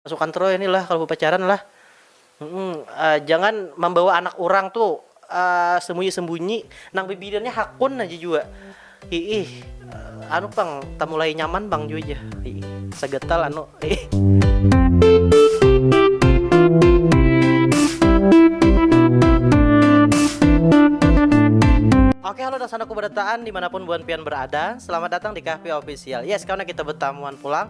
Pasukan Troy ni lah kalu bapacaran lah jangan mambawa anak urang tu sembunyi-sembunyi nang bibinian nya hakun aja jua hiih anu pang tamulai nyaman pang jua jar hiih sagatal anu hiih. Oke halo dasanaku barataan dimanapun buhan pian berada selamat datang di Kahfi official yes karena kita betamuan pulang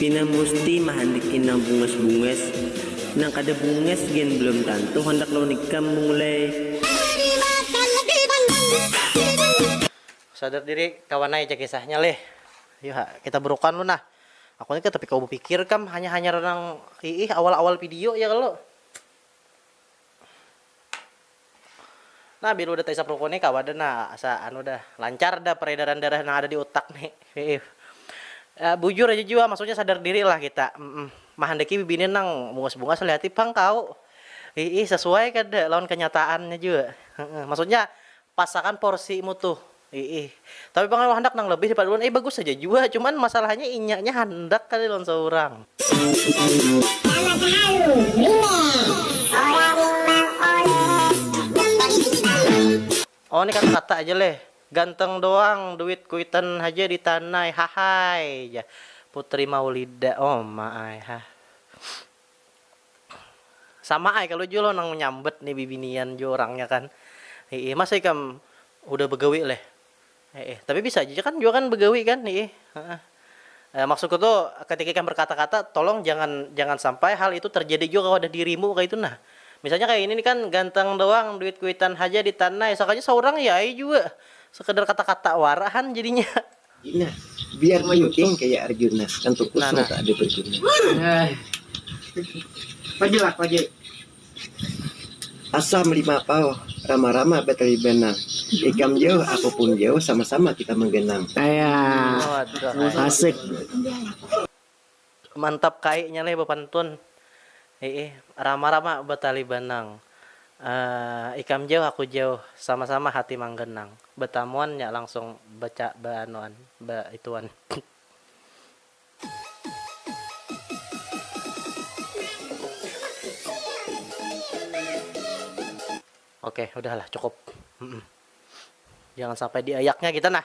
Pina musti mahandiki nang bungas-bungas, nang kada bungas gen belum tantu handak lawan ikam Mung leh. Sadar diri kawan ai ja kisahnya leh. Ayu ha kita burukan lu nah. Aku ni kada tapi kawa bapikir kam hanya hanyar nang iih awal-awal video ja kalo. Nah bila udah taisap ruku nih kawa dah nah asa anu dah lancar dah peredaran darah nang ada di utak nih bujur aja jua maksudnya sadar diri lah kita mahandaki bibinian nang bungas bungas lihati pang kaw iih sesuai kada lawan kenyataannya jua maksudnya pas akan porsimu tuh. Iih. Tapi pang aku handak nang lebih daripada ulun. Ai bagus haja jua, cuman masalahnya inya nya handak kali lawan saurang. Sama tahalu, Rimeh. Orang rimang oleh gambang hitam. Oh ni kata kata aja leh. Ganteng doang duit kuitan haja di tanai, hahaii, jar putri maulida. Oma ai hah. Sama ai kalu jua lo nang manyambat ni bibinian jua urangnya kan hiih masa ikam hudah bagawi leh hiih tapi bisa aja kan jua kan bagawi kan hiih heeh maksudku tu katika ikam berkata-kata tolong jangan jangan sampai hal itu terjadi jua kawadah dirimu kaitu nah misalnya kaya ini ni kan ganteng doang duit kuitan haja di tanai sakalinya saurang ya ai jua sekadar kata-kata wara han jadinya. Nah, biar mayuting kaya Arjuna, tentu kusung ka ada baguna. Asa malimapau rama-rama batalibanang, ikam jauh aku pun jauh sama-sama kita maganang. Mantap kai nya leh bapantun. Hiih, rama rama batali banang. Aah, ikam jauh aku jauh, sama sama hati mangganang. Batamuan nya langsung baca ba anuan, ba ituan. Oke, udah lah cukup. Jangan sampai diayaknya kita nah.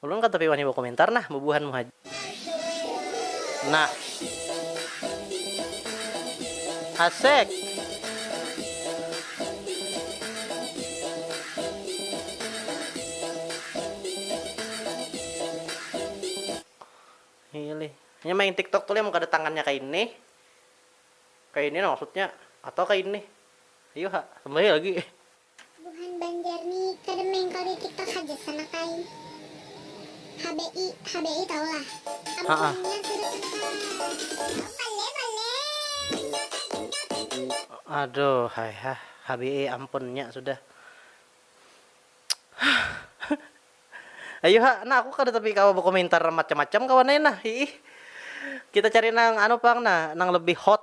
Ulun kada tapi wani bakomentar nah bubuhan mu haja nah asek. Pilih nya main tiktok tu lih mun kada tangannya ka ini ka ini nah maksudnya atau ka ini ayu ha tambahih lagi. Buhan banjar ni kada mengkal di tiktok haja sanak ai hbi hbi tahu lah am buhannya sudah tusah. Aduh hai hah hbi ampun nya sudah ayuha nah aku kada tapi kawa bakomentar macam macam kawan ai nah hiih kita cari nang anu pang nah nang lebih hot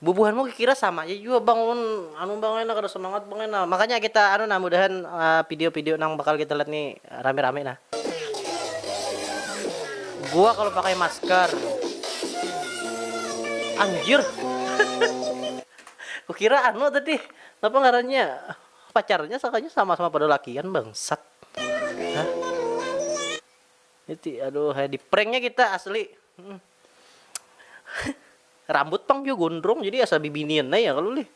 Bubuhanmu kikira sama ja jua bang ulun anu bang ai nah kada semangat bang ai nah makanya kita anu nah mudahan pidio pidio nang bakal kita lihat ni rami rami nah. Gua kalu pakai masker. Anjir kukira anu tadi napa ngarannya pacarnya sakanya sama sama pada lakian bangsat ha. Niti aduh di pranknya kita asli. Rambut pang jua gondrong jadi asa bibinian ai ya kalu lih.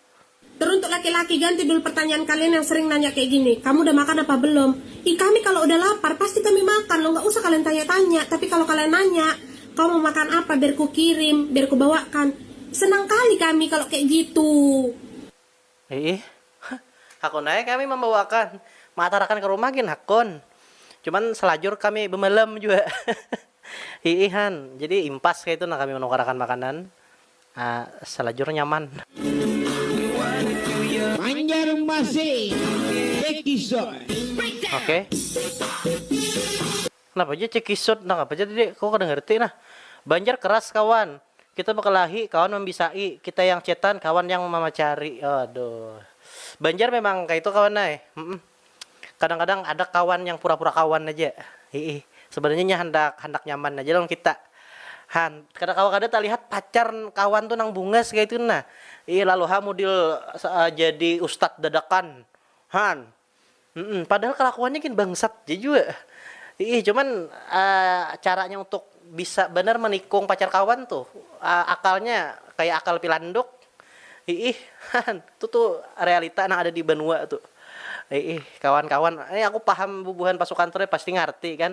Teruntuk laki-laki ganti dul pertanyaan kalian yang sering nanya kayak gini, kamu udah makan apa belum? Ih kami kalo udah lapar pasti kami makan loh nggak usah kalian tanya-tanya tapi kalo kalian nanya kamu mau makan apa biar kukirim biar kubawakan senang kali kami kalo kayak gitu. Iih, hakun ai kami mambawaakan, maatarakan ka rumah gin hakun. Cuman salajur kami bamalam jua. Iih han, jadi impas kaitu nah kami manukarakan makanan. Salajur nyaman. Banjarmasin Episode. Oke. Napa ja cekisut nang apa ja tadi ko kada ngerti nah. Banjar keras kawan. Kita bekelahi kawan membisai, kita yang cetan kawan yang mamacari. Aduh. Banjar memang kaitu kawan ai. Humm. Kadang kadang ada kawan yang pura pura kawan aja. Hiih. Sebenarnya nya handak handak nyaman aja lawan kita. Han. Kada kawa kada talihat pacar kawan tu nang bungas kaitu nah. Hiih lalu ha mudil jadi ustad dadakan. Han. Mm padahal kelakuannya gin bangsat ja jua iih cuman caranya untuk bisa banar menikung pacar kawan tuh akalnya kaya akal pilanduk iih han tu tu realita nang ada di banua tu iih kawan kawan ini aku paham bubuhan pasukan tu pasti ngarti kan.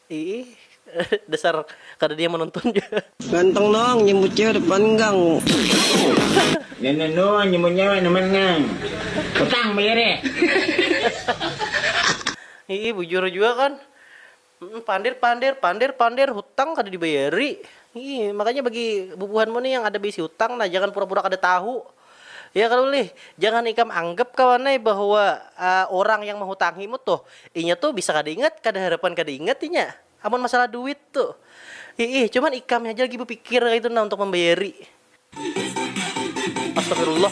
Iih dasar kada diam menonton ja. Ganteng nang nyebut cewek depan gang. Nenek noo nyebut nyewek depan gang. Petang belirih. Iih bujur jua kan. Pander pander pander pander hutang kada dibayari. Iih makanya bagi bubuhanmu nih yang ada beisi hutang nah jangan pura pura kada tahu. Ya kalo ulih, jangan ikam anggap kawan ai bahwa urang yang mahutangi mu tuh, inya tuh bisa kada ingat, kada harapan kada ingat inya amun masalah duit tuh. Hiih, cuman ikam haja lagi bapikir kaitu nah untuk mambayari. Astagfirullah.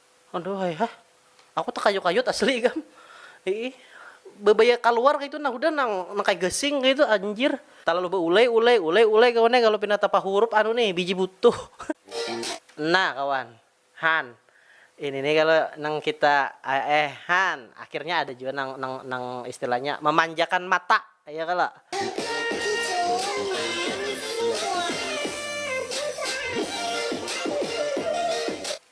Aduhai hah, aku takayut-kayut asli ikam. Iih, babaya kaluar kaitu nah hudah nang nang kaya gasing kaitu anjir. Talalu baulai ulai, ulai ulai kawan ai kalu pina tapahurup anu nih biji butuh. Nah kawan, han, ini nih kalu nang kita eh han, akhirnya ada jua nang nang nang istilahnya mamanjakan mata ya kalo.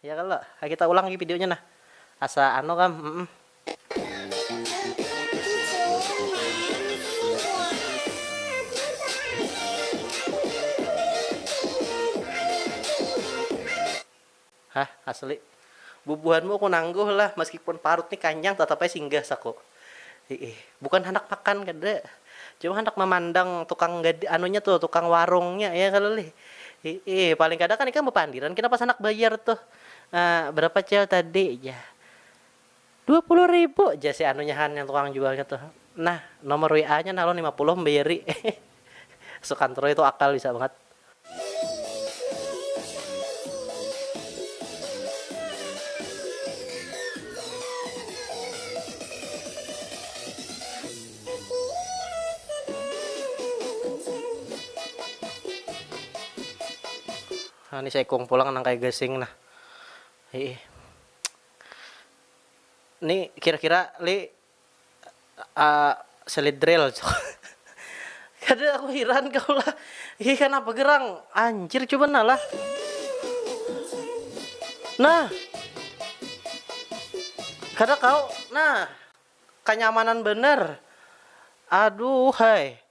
Ya kalo, ha kita ulang lagi videonya nah. Asa anu kam, mm. Hah, asli. Bubuhanmu aku nangguh lah, meskipun parut ni kanyang tatap ai singgah, saku. Hiih, bukan handak makan kada, cuma handak mamandang tukang gad anunya tuh, tukang warungnya ya kalo lih. Hiih, paling kada kan ikam bapandiran kena pas handak bayar tuh. Ah, berapa cel tadi jar. Dua puluh ribu jar si anunya han yang tukang jualnya tuh. Nah, nomor WA-nya nah ulun lima puluh membayari. Sukantroi tu akal bisa bangat. Nah ni saikung pulang nang kaya gasing nah hiih. Ni kira kira lih. selit drill kada aku hiran kaw lah hi kanapa gerang anjir cuba nah lah nah kada kaw nah kanyamanan banar aduuhhai.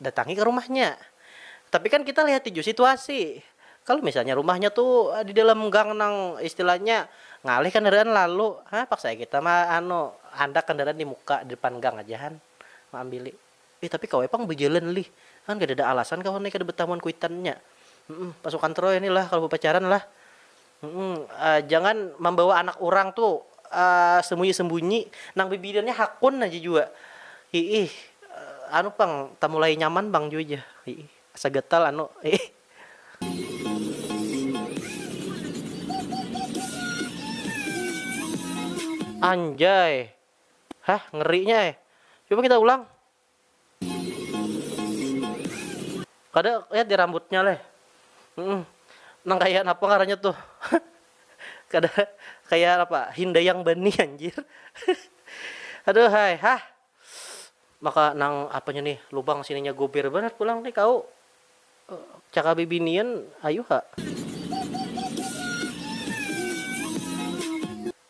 Datangi ka rumahnya. Tapi kan kita lihati jua situasi. Kalo misalnya rumahnya tu di dalam gang nang istilahnya ngalih kandaraan lalu, ha paksa ai kita ma anu handak kandaraan di muka di depan gang aja han maambili. Ih tapi kawa ai pang bajalan lih, kan kadada alasan kawan ai kada batamuan kuitannya. Humm pasukan troy ni lah kalo bapacaran lah. jangan mambawa anak urang tu sembunyi-sembunyi, nang bibinian ni hakun aja jua, hiih, anu pang tamulai nyaman pang jua jar, hiih, asa gatal anu, hiih. Anjay, hah ngeri nya ai, coba kita ulang, Kada ya di rambutnya leh nang kaya napa ngarannya tuh kada kaya napa hindayang bani anjir aduhai hah maka nang apanya nih lubang sininya guber banar pulang nih kau caka bibinian ayu ha.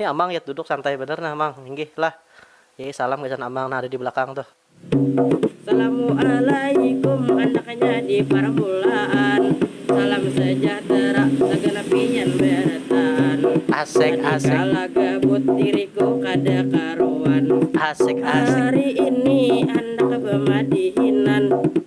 Nih amang yat duduk santai banar nah mang, inggih lah. Yai salam gasan amang nang ada di balakang tuh. Salamu'alaikum anaknya di parmulaan salam sejahtera saganap pian barataan tadika lagabut diriku kada karuan hari ini handak bamadihinan.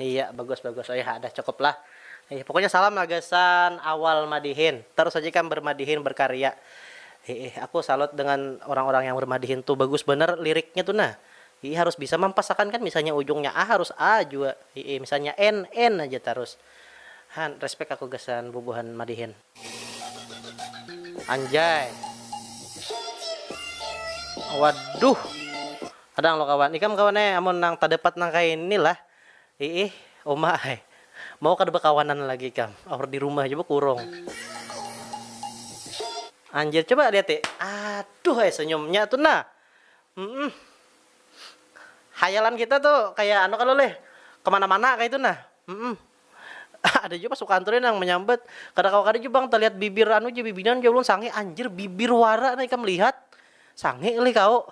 Iya bagus bagus oiha dah cukup lah ih pokoknya salam lah gasan awal madihin terus aja ikam bermadihin berkarya hiih aku salut dengan orang orang yang bermadihin tu bagus banar liriknya tu nah hiih harus bisa mampas akan kan misalnya ujungnya a harus a jua hiih misalnya en en aja tarus han respect aku gasan bubuhan madihin. Anjay. Waduh. Kadang lo kawan. Ikam kawan eh amun nang tadapat nang kaya ini lah. Iih, uma ai. Mau kada bakawanan lagi ikam. Aur di rumah ja bakurung. Anjir, coba liati. Aduh ai senyumnya tu nah. Hmm. Hayalan kita tu kaya anu kalo leh. Kemana-mana kaya itu nah. Hmm. Ada jua pas sukantur nih nang manyambat, kada kawa kada jua pang talihat bibir anu ja bibinan ja ulun sangih, anjir bibir wara nah ikam lihat, sangih lih kaau,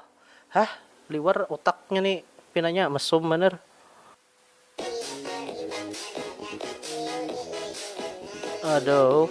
hah liwar utaknya ni pinanya mesum banar. Aduh.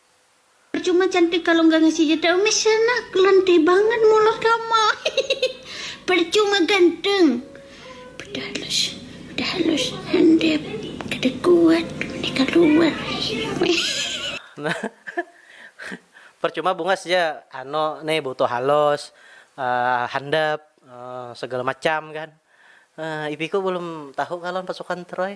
Percuma cantik kalo nggak ngasih jatah umis sana kelentik banget mulut kamu percuma ganteng udah halus udah halus handap kada kuat mending kaluar nah percuma bungas ja anu ni butuh halus handap segala macam kan ipiku belum tahu kalo lawan pasukan troy.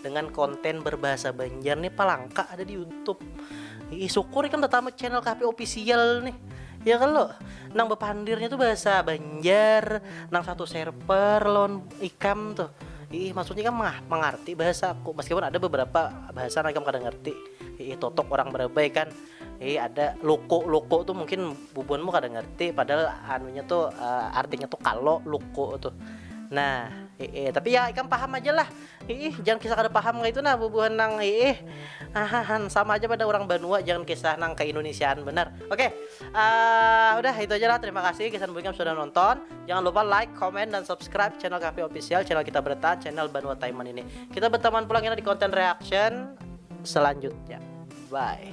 dengan konten berbahasa Banjar nih palangka ada di YouTube. Ih, syukur kan pertama channel KP official nih. Ya kan lo, nang bepandirnya tuh bahasa Banjar, nang satu server lon ikam tuh. Ih, maksudnya kan mah mengerti bahasa aku meskipun ada beberapa bahasa nang ikam kada ngerti. Ih, totok orang berabai kan. Ih, ada loko-loko tuh mungkin bubuanmu kada ngerti padahal anunya tuh uh, artinya tuh kalau loko tuh. Nah, ih, tapi ya ikam paham aja lah Hiih, jangan kisah kada paham kaitu nah bubuhan nang hiih. Hahahan, sama aja pada urang banua jangan kisah nang ka Indunisiaan banar. Oke, uh, udah itu aja lah. Terima kasih Kisan Buikam sudah nonton. Jangan lupa like, comment, dan subscribe channel kami official, channel kita bertahan, channel Banua Taiman ini. Kita berteman pulang kita di konten reaction selanjutnya. Bye.